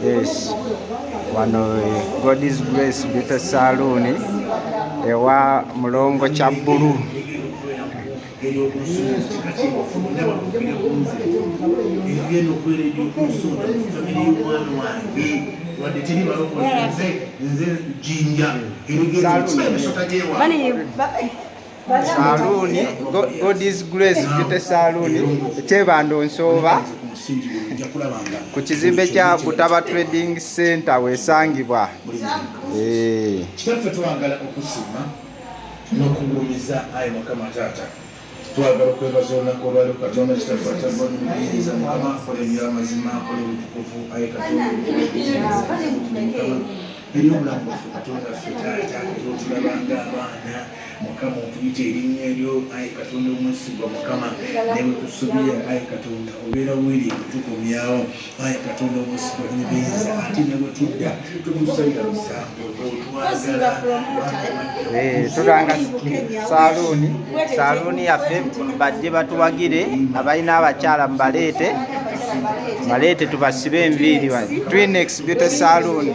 Yes. Wano God is Grace Beauty Saloon ewa Mulongo Kyabulu. saluuni godis grace jute saluuni ekyebando nsooba ku kizimbe kya butaba trading center wesangibwa eh. n'okugulumiza ayi mukama taata twagala okwebaza olunaku olwaliro katonda kitaffe akyagoni muyinza mukama akola ebyamazima akola obutukuvu ayi katonda eri obulamu bwaffe katonda ffe taata otulaba nga abaana mukama otuyita erinnya eryo ayi katonda omwesigwa mukama newe tusubira ayi katonda obeera wiri kutukomyawo Ayi Katonda omwesigwa nnyo biyinza ate ne bwe tudda totusalira musango otwagala tulanga saaluuni saaluuni yaffe bajje batuwagire abalina abakyala mubaleete baleete tubasibe enviiri twinexbute saaluuni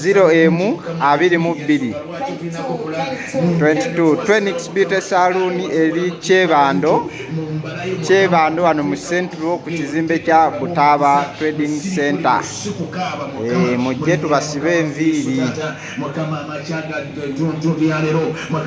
ziro emu abiri mu bbiri 22 twenix beauty saloon eri kyebando kyebando wano mu central ku kizimbe kya butaaba trading center eh, mujje tubasibe enviiri